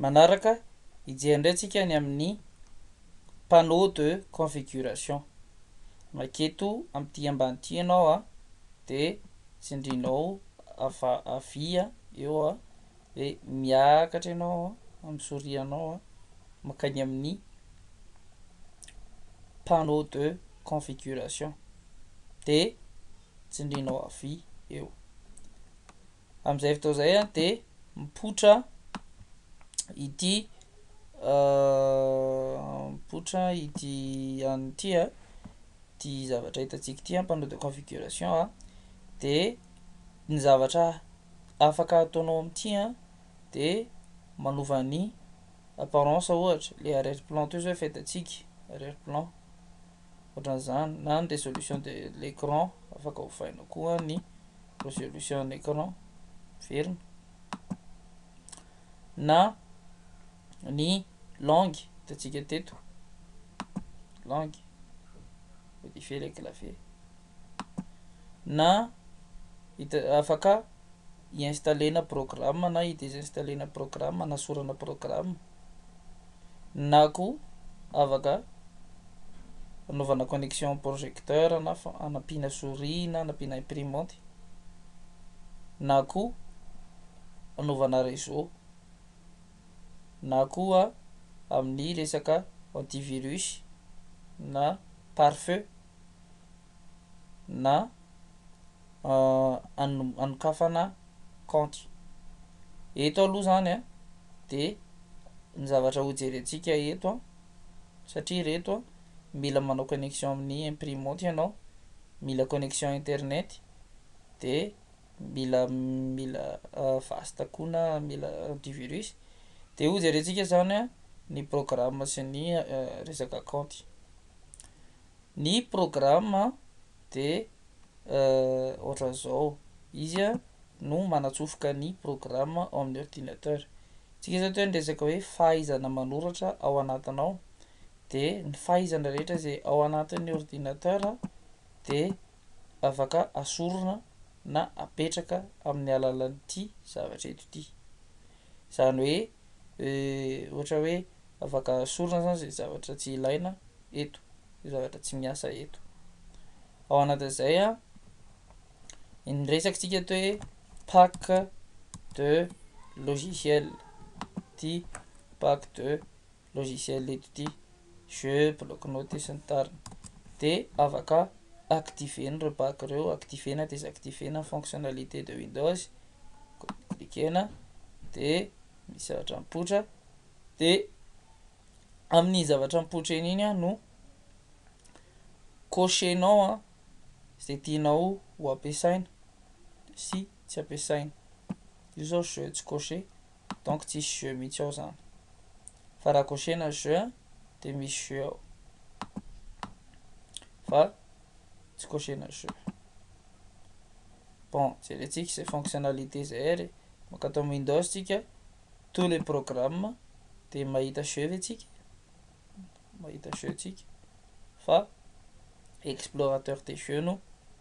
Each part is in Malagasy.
Manaraka, hijery indray tsika ny amin'ny panneau de configuration. Maika eto amin'ity ambany ity ianao a, de tsindrinao ava havia eo a, de miakatra ianao amin'ny souris anao a, mankany amin'ny panneau de configuration, de tsindrinao havia eo. Amin'izay fotoana izay dia mipoitra ity mipoitra ity an'ny ity ity zavatra hitantsika ity panneau de configuration dia ny zavatra afaka ataonao amin'ity dia manova ny apparence ohatra le arrière plan toy izao efa hitantsika arrière plan. Ohatran'izany na ny résolution de l'écran afaka ovaina koa ny résolution en écran miverina na ny langue hitantsika teto langue modifier le clavier na hita afaka hi-installer-na programme na hi-désinstaller-na programme hanasorana programme Na koa afaka anaovana connexion projecteur na anampiana souris na anampiana imprimante na koa anaovana réseau na koa amin'ny resaka antivirus na pare-feu. na anokafana kaonty. Eto aloha izany a, dia ny zavatra hojerentsika eto a, satria ireto a, mila manao connexion amin'ny imprimanty ianao, mila connexion internet, dia mila mila vaste koa na mila antivirus, dia hojerentsika izany a ny programme sy ny resaka kaonty. ny programme de ohatran'izao, izy no manatsofoka ny programme ao amin'ny ordinateur, antsika izao toa niresaka hoe fahaizana manoratra ao anatiny ao de ny fahaizana rehetra izay ao anatin'ny ordinateur de afaka asorina na apetraka amin'ny alalan'ity zavatra eto ity. Izany hoe ohatra hoe afaka sorona izany izay zavatra tsy ilaina eto, izay zavatra tsy miasa eto. Ao anatin'izay a, ny resakantsika eto hoe pack de logiciel, ity pack de logiciel eto ity, jeux, bloc note sy ny tariny. De afaka activer-na ireo bac ireo, activer na desactiver na ny fonctionnalité de Windows, cliquer-na de misy zavatra mipoitra de amin'iny zavatra mipoitra iny iny no cocher-nao a ze tianao ho ampiasaina sy tsy ampiasaina, io zao jeux tsy cocher. Donc tsisy jeu mihitsy ao zany. Fa raha kosehina jeu a dia misy jeu ao. Fa tsy kosehina jeu. Bon, jerentsika izay fonctionnalité izay ary. Mankatao amin'ny Windows tsika, tous les programmes dia mahita jeu ve tsika? Mahita jeu tsika. Fa explorateur des jeux no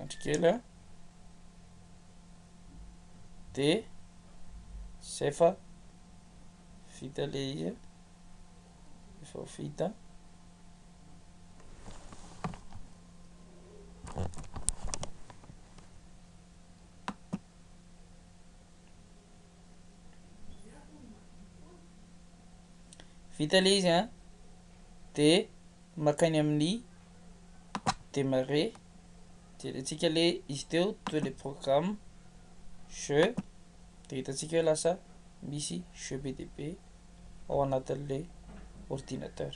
Andry kely a. Dia zay fa vita ilay izy. Efa vita. Vita ilay izy a. Dia maka ny amin'ny démarrer jerentsika le izy teo de le programme jeux de hitantsika hoe lasa misy jeux be dia be ao anatin'ilay ordinateur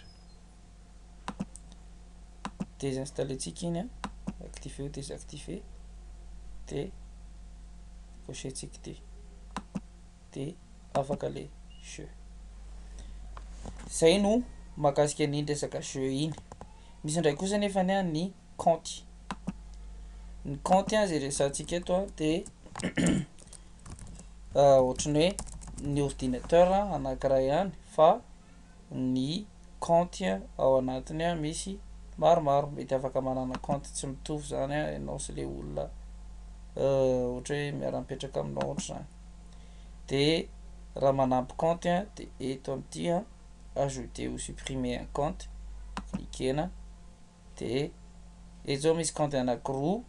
désinstaller ntsika iny activer ou désactiver de cocher ntsika ity de afaka le jeu. Zay no mahakasika an'iny resaka jeu iny. Misy indray kosa nefa ny ny kaonty. Ny kaonty izay resahantsika eto de ohatran'ny hoe ny ordinateur anankiray ihany fa ny kaonty ao anatiny misy maromaro. Mety afaka manana kaonty tsy mitovy zany ianao sy le olona ohatra hoe miara-mipetraka aminao ohatra zany. de raha manampy compte a de eto am ty a ajouter ou supprimer un compte ekena de eto zao misy compte anakiroa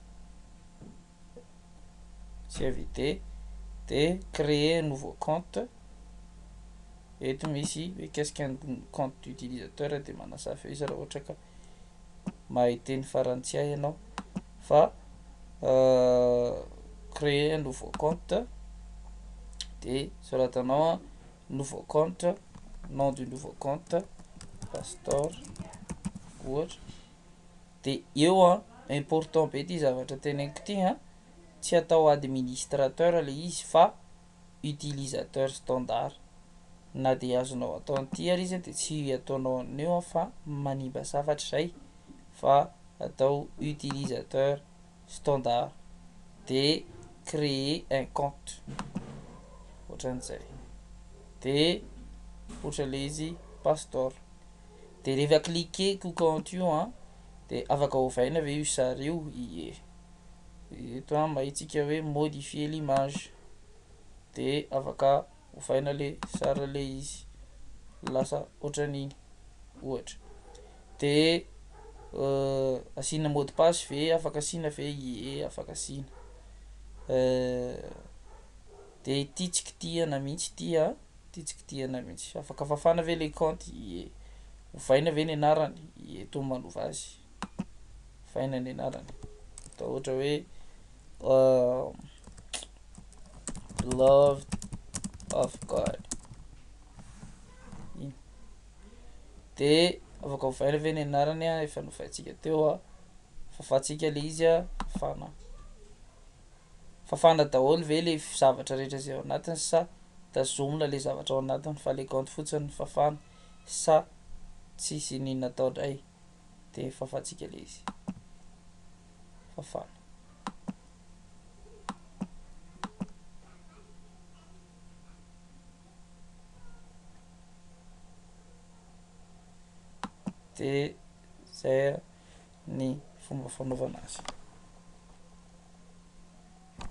tsy inviter de creer un nouveau compte eto misy mikasika ny compte utilisateur de manasa feuille izy raha ohatra ka mahay teny farantsay ianao fa créer un nouveau compte de soratanao a nouveau compte nom du nouveau compte pastor ohatra de eo a important be ty zavatra teneniko ty a tsy atao administrateur le izy fa utilisateur standard na dia azonao atao an'ity ary izy dia tsy ataonao an'io fa manimba safatra izay fa atao utilisateur standard dia créer un compte ohatran'izay dia ohatra ilay izy pastor dia rehefa cliquer ko compte io dia afaka ovaina ve io sary io ie eto an mba hitsika hoe modifier l'image dia afaka ovaina le sary le izy lasa ohatran'iny ohatra de euh, asiana mot de passe ve afaka asiana ve ie afaka asiana euh, de ity tsy kitihana mihitsy ity a ity tsy kitihana mihitsy afaka fafana ve le kaonty ie ovaina ve ny anarany ie to manova azy Vaina ny anarany. Atao ohatra hoe uh, beloved of God. Iny. De afaka hovaina ve ny anarany a efa novaintsika teo a. Fafantsika le izy a, fafana. Fafana daholo ve le zavatra rehetra izay ao anatiny sa tazomina le zavatra ao anatiny fa le kaonty fotsiny fafana sa tsy isinina atao dray. Dia fafantsika ilay izy. Fafana. Dia izay ny fomba fanaovana azy.